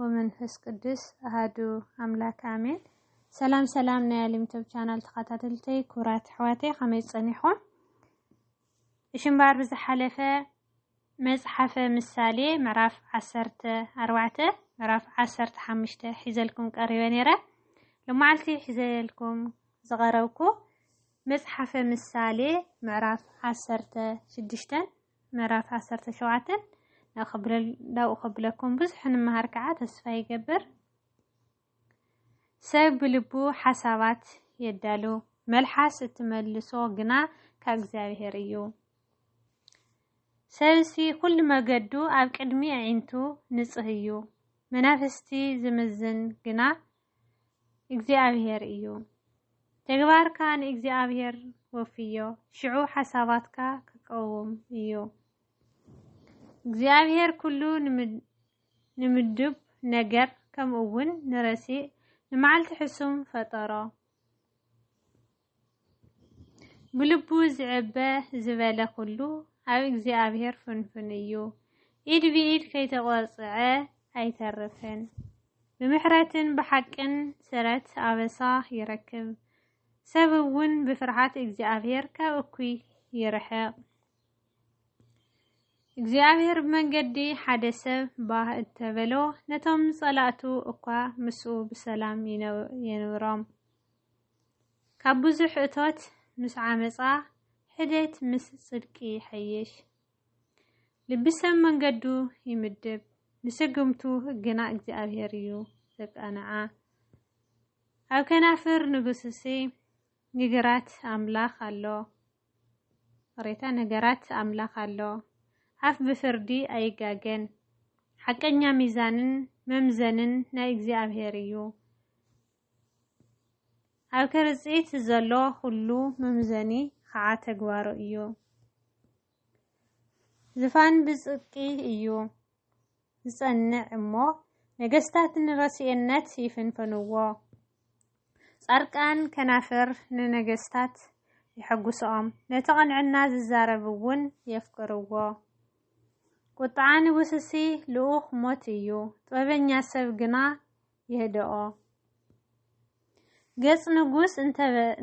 ወመንፈስ ቅዱስ ኣሃዱ ኣምላክ ኣሜን። ሰላም ሰላም ናይ ኣሊምቶብ ቻናል ተኸታተልተይ ክቡራት ኣሕዋተይ ከመይ ጸኒሕኩም? እሺ እምበኣር ብዝሓለፈ መጽሓፈ ምሳሌ ምዕራፍ ዓሰርተ ኣርባዕተ ምዕራፍ ዓሰርተ ሓሙሽተ ሒዘልኩም ቀሪበ ነይረ። ልማዓልቲ ሒዘልኩም ዝቐረብኩ መጽሓፈ ምሳሌ ምዕራፍ ዓሰርተ ሽዱሽተን ምዕራፍ ዓሰርተ ሸውዓተ ናብኡ ከብለኩም ብዙሕ ንምሃር ከዓ ተስፋ ይገብር። ሰብ ብልቡ ሓሳባት የዳሉ፣ መልሓስ እትመልሶ ግና ካብ እግዚኣብሔር እዩ። ሰብሲ ኩሉ መገዱ ኣብ ቅድሚ ኣዒንቱ ንጽህ እዩ፣ መናፍስቲ ዝምዝን ግና እግዚኣብሄር እዩ። ተግባርካ ንእግዚኣብሄር ወፍዮ፣ ሽዑ ሓሳባትካ ክቀውም እዩ። እግዚኣብሄር ኩሉ ንምዱብ ነገር ከምኡውን ንረሲእ ንመዓልቲ ሕሱም ፈጠሮ። ብልቡ ዝዕበ ዝበለ ኩሉ ኣብ እግዚኣብሔር ፍንፍን እዩ። ኢድ ብኢድ ከይተቆርጽዐ ኣይተርፍን። ብምሕረትን ብሓቅን ስረት ኣበሳ ይረክብ። ሰብ እውን ብፍርሃት እግዚኣብሔር ካብ እኩይ ይርሕቕ። እግዚኣብሔር ብመንገዲ ሓደ ሰብ ባህ እተበሎ ነቶም ጸላእቱ እኳ ምስኡ ብሰላም የንብሮም። ካብ ብዙሕ እቶት ምስ ዓመጻ ሕደት ምስ ጽድቂ ይሐይሽ። ልቢ ሰብ መንገዱ ይምድብ፣ ንስግምቱ ግና እግዚኣብሔር እዩ ዘቃንዓ። ኣብ ከናፍር ንጉስሲ ንግራት ኣምላኽ ኣሎ ሬታ ነገራት ኣምላኽ ኣሎ። ኣፍ ብፍርዲ ኣይጋገን፣ ሓቀኛ ሚዛንን መምዘንን ናይ እግዚኣብሔር እዩ። ኣብ ክርጺት ዘሎ ኩሉ መምዘኒ ኸዓ ተግባሩ እዩ። ዝፋን ብጽቂ እዩ ዝጸንዕ እሞ ነገስታት ንረስኤነት ይፍንፍንዎ። ጻርቃን ከናፍር ንነገስታት የሐጉስኦም፣ ነቲ ቕንዕና ዝዛረብ እውን የፍቅርዎ። ቁጥዓ ንጉስሲ ልኡኽ ሞት እዩ፣ ጥበበኛ ሰብ ግና የህድኦ። ገጽ ንጉስ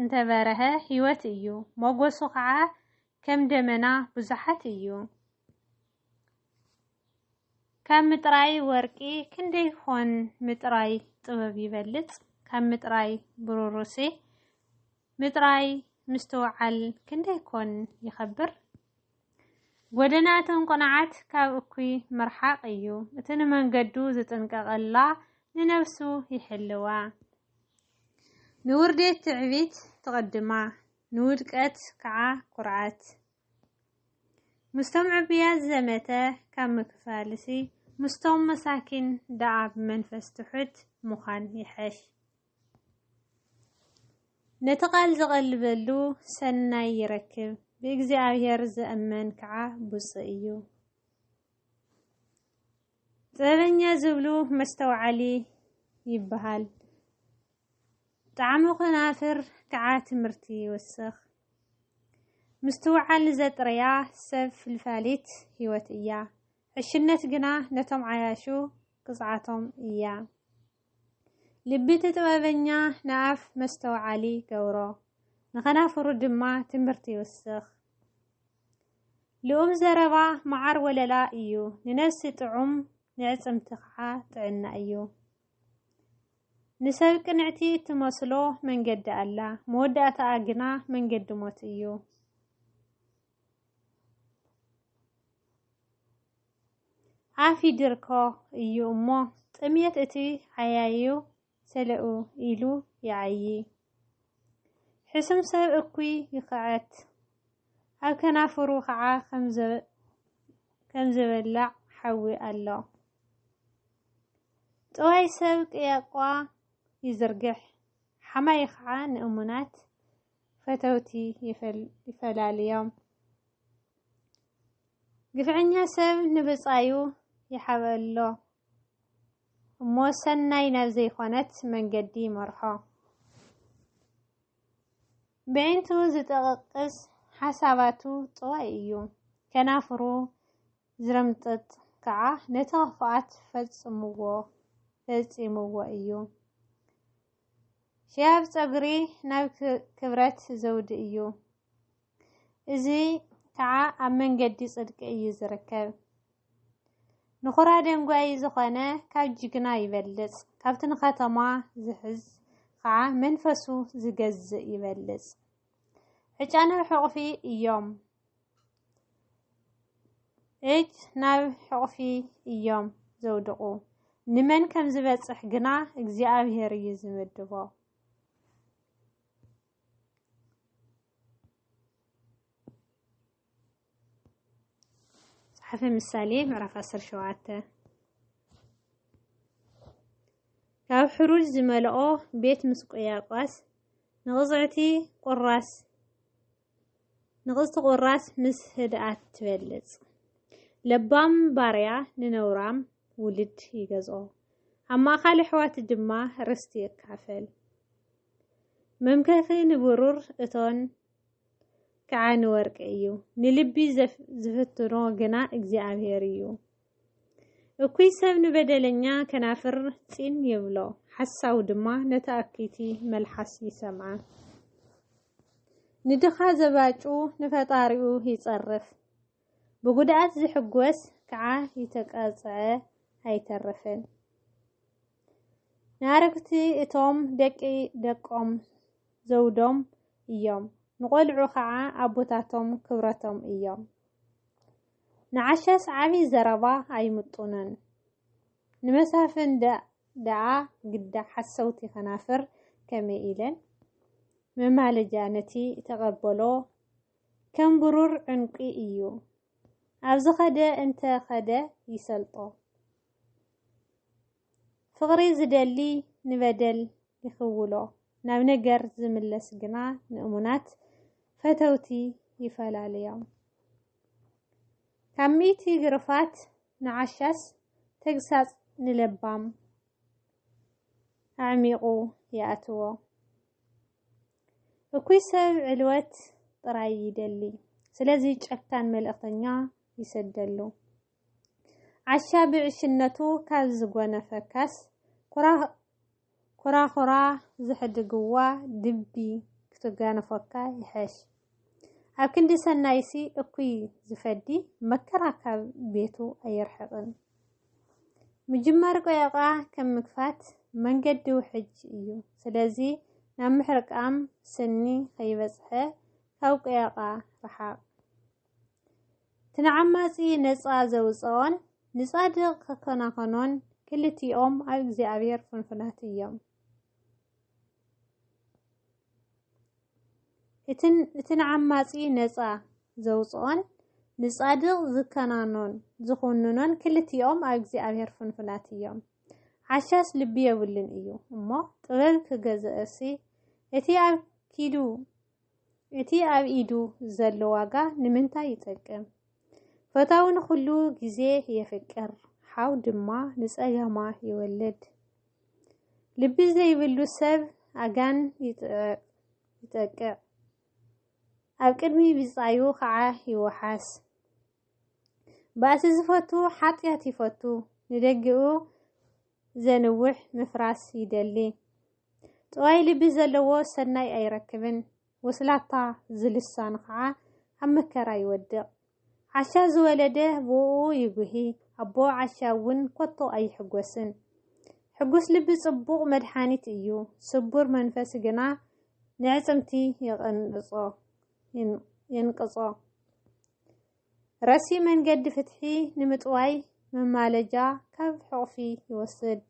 እንተ በረሀ ህይወት እዩ፣ ሞገሱ ኸዓ ከም ደመና ብዙሓት እዩ። ካብ ምጥራይ ወርቂ ክንደይ ኾን ምጥራይ ጥበብ ይበልጽ፣ ካብ ምጥራይ ብሩሩሴ ምጥራይ ምስትውዓል ክንደይ ኮን ይኸብር። ጐደና እቶም ቅኑዓት ካብ እኩይ ምርሓቕ እዩ፣ እቲ ንመንገዱ ዚጥንቀቐላ ንነብሱ ይሕልዋ። ንውርዴት ትዕቢት ትቕድማ፣ ንውድቀት ከዓ ኵርዓት። ምስቶም ዕቡያት ዝዘመተ ካብ ምክፋልሲ፣ ምስቶም መሳኪን ደኣ ብመንፈስ ትሑት ምዃን ይሐሽ። ነቲ ቃል ዝቐልበሉ ሰናይ ይረክብ፣ ብእግዚኣብሔር ዝእመን ከዓ ብፁእ እዩ። ጥበበኛ ዝብሉ መስተውዓሊ ይበሃል። ጣዕሚ ከናፍር ከዓ ትምህርቲ ይውስኽ። ምስትውዓል ዘጥረያ ሰብ ፍልፋሊት ህይወት እያ። ዕሽነት ግና ነቶም ዓያሹ ቅፅዓቶም እያ። ልቢ'ቲ ጥበበኛ ንኣፍ መስተውዓሊ ይገብሮ፣ ንኸናፍሩ ድማ ትምህርቲ ይውስኽ። ልኡም ዘረባ መዓር ወለላ ኢዩ፣ ንነብሲ ጥዑም ንዕጽምቲ ኸዓ ጥዕና ኢዩ። ንሰብ ቅንዕቲ እትመስሎ መንገዲ ኣላ፣ መወዳእታኣ ግና መንገዲ ሞት ኢዩ። ዓፊ ድርኮ እዩ እሞ ጥምየት እቲ ዓያዩ ሰለኡ ኢሉ ይዓዪ። ሕሱም ሰብ እኩይ ይኽዐት፣ ኣብ ከናፍሩ ኸዓ ከም ዝበላዕ ሓዊ ኣሎ። ጥዋይ ሰብ ቅያቋ ይዝርግሕ፣ ሓማዪ ኸዓ ንእሙናት ፈተውቲ ይፈላልዮም። ግፍዐኛ ሰብ ንብጻዩ ይሓበሎ እሞ ሰናይ ናብ ዘይኮነት መንገዲ ይመርሖ። ብዒንቱ ዝጠቕቅስ ሓሳባቱ ጥዋይ እዩ። ከናፍሩ ዝረምጥጥ ከዓ ነቲ ክፍኣት ፈጽምዎ ፈጺምዎ እዩ። ሽያብ ፀጉሪ ናብ ክብረት ዘውዲ እዩ። እዚ ከዓ ኣብ መንገዲ ፅድቂ እዩ ዝርከብ። ንኹራ ደንጓይ ዝኾነ ካብ ጅግና ይበልፅ፣ ካብቲ ንከተማ ዝሕዝ ከዓ መንፈሱ ዝገዝእ ይበልፅ። ዕጫ ናብ ሕቑፊ እዮም። እጅ ናብ ሕቑፊ እዮም ዘውድቑ። ንመን ከም ዝበጽሕ ግና እግዚኣብሄር እዩ ዝምድቦ። መጽሓፈ ምሳሌ ምዕራፍ 17 ካብ ሕሩጅ ዝመልኦ ቤት ምስ ቆያቋስ ንቕጽዕቲ ቁራስ ንቕስቲ ቁራስ ምስ ህድኣት ትበልጽ። ለባም ባርያ ንነውራም ውልድ ይገዝኦ። ኣማኻሊ ኣሕዋት ድማ ርስቲ ይካፈል። መምከኺ ንብሩር እቶን ከዓ ንወርቂ እዩ። ንልቢ ዝፍትኖ ግና እግዚኣብሔር እዩ። እኩይ ሰብ ንበደለኛ ከናፍር ጺን ይብሎ፣ ሓሳዊ ድማ ነቲ ኣክይቲ መልሓስ ይሰምዓ። ንድኻ ዘባጩ ንፈጣሪኡ ይጸርፍ፣ ብጉድኣት ዝሕጎስ ከዓ ይተቀጽዐ ኣይተርፍን። ንኣረግቲ እቶም ደቂ ደቆም ዘውዶም እዮም፣ ንቆልዑ ከዓ ኣቦታቶም ክብረቶም እዮም። ንዓሻ ሰዓቢ ዘረባ ኣይምጡንን ንመሳፍን ደኣ ግዳ ሓሰውቲ ከናፍር ከመይ ኢለን መማለጃ ነቲ ተቐበሎ ከም ብሩር ዕንቊ እዩ ኣብ ዝኸደ እንተ ኸደ ይሰልጦ ፍቕሪ ዝደሊ ንበደል ይኽውሎ ናብ ነገር ዝምለስ ግና ንእሙናት ፈተውቲ ይፈላለዮም። ካብ ሚእቲ ግርፋት ንዓሻስ ተግሳጽ ንለባም ኣዕሚቑ ይኣትዎ። እኩይ ሰብ ዕልወት ጥራይ ይደሊ፣ ስለዚ ጨካን መልእኽተኛ ይሰደሉ። ዓሻ ብዕሽነቱ ካብ ዝጎነፈካስ ኩራኹራ ዘሕድግዋ ድቢ ክትጋነፎካ ይሐሽ። ኣብ ክንዲ ሰናይሲ እኩይ ዝፈዲ መከራ ካብ ቤቱ ኣየርሕቕን። ምጅማር ቆየቛ ከም ምግፋት መንገዲ ውሕጅ እዩ። ስለዚ ናብ ምሕርቃም ስኒ ከይበጽሐ ካብ ቆየቛ ረሓቕ። እቲ ንዓማጺ ነጻ ዘውጽኦን ንጻድቕ ክከናኸኖን ክልቲኦም ኣብ እግዚኣብሔር ፍንፉናት እዮም። እቲ ንዓማጺ ነጻ ዘውጽኦን ንጻድቕ ዝከናኖን ዝኹንኖን ክልቲኦም ኣብ እግዚኣብሔር ፍንፉናት እዮም። ዓሻስ ልቢ የብሉን እዩ እሞ ጥበብ ክገዝእሲ እቲ ኣብ ኪዱ እቲ ኣብ ኢዱ ዘሎ ዋጋ ንምንታይ ይጠቅም? ፈታዊ ንኹሉ ግዜ የፍቅር፣ ሓው ድማ ንጸገማ ይወልድ። ልቢ ዘይብሉ ሰብ ኣጋን ይጠቅዕ፣ ኣብ ቅድሚ ብጻዩ ኸዓ ይወሓስ። ባእሲ ዝፈቱ ሓጢኣት ይፈቱ፣ ንደገኡ ዘንውሕ ምፍራስ ይደሊ። ጥዋይ ልቢ ዘለዎ ሰናይ ኣይረክብን፣ ወስላታ ዝልሳን ኸዓ ኣብ መከራ ይወድቕ። ዓሻ ዝወለደ ብኡኡ ይጉሂ፣ ኣቦ ዓሻ እውን ኮቶ ኣይሕጎስን። ሕጉስ ልቢ ጽቡቕ መድሓኒት እዩ፣ ስቡር መንፈስ ግና ንዕጽምቲ የንቅጾ። ረሲእ መንገዲ ፍትሒ ንምጥዋይ መማለጃ ካብ ሕቑፊ ይወስድ።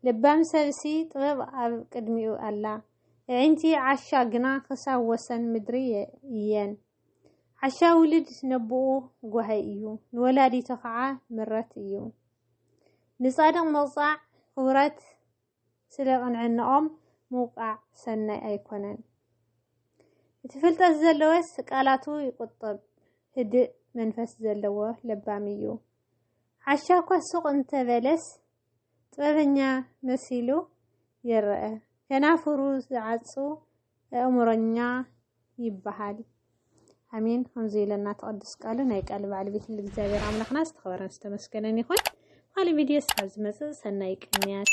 ልባም ሰብሲ ጥበብ ኣብ ቅድሚኡ ኣላ። ኣዒንቲ ዓሻ ግና ክሳብ ወሰን ምድሪ እየን። ዓሻ ውልድ ነቦኡ ጓሃይ እዩ፣ ንወላዲቱ ኸዓ ምረት እዩ። ንጻድቕ ምቕጻዕ ኽብረት ስለ ቅንዕንኦም ምውቃዕ ሰናይ ኣይኮነን። እቲ ፍልጠት ዘለወስ ቃላቱ ይቁጥብ ህድእ መንፈስ ዘለዎ ለባም እዩ። ዓሻ እኳ ሱቅ እንተ በለስ ጥበበኛ መሲሉ ይረኣ። ከናፍሩ ዝዓጹ እእምሮኛ ይበሃል። ኣሜን ከምዚ ኢለና ተቐድስ ቃሉ ናይ ቃል በዓል ቤት እግዚኣብሔር ኣምላኽና ዝተኸበረን ዝተመስገነን ይኹን። ካልእ ቪድዮ ስኻብ ዝመፅእ ሰናይ ቅንያት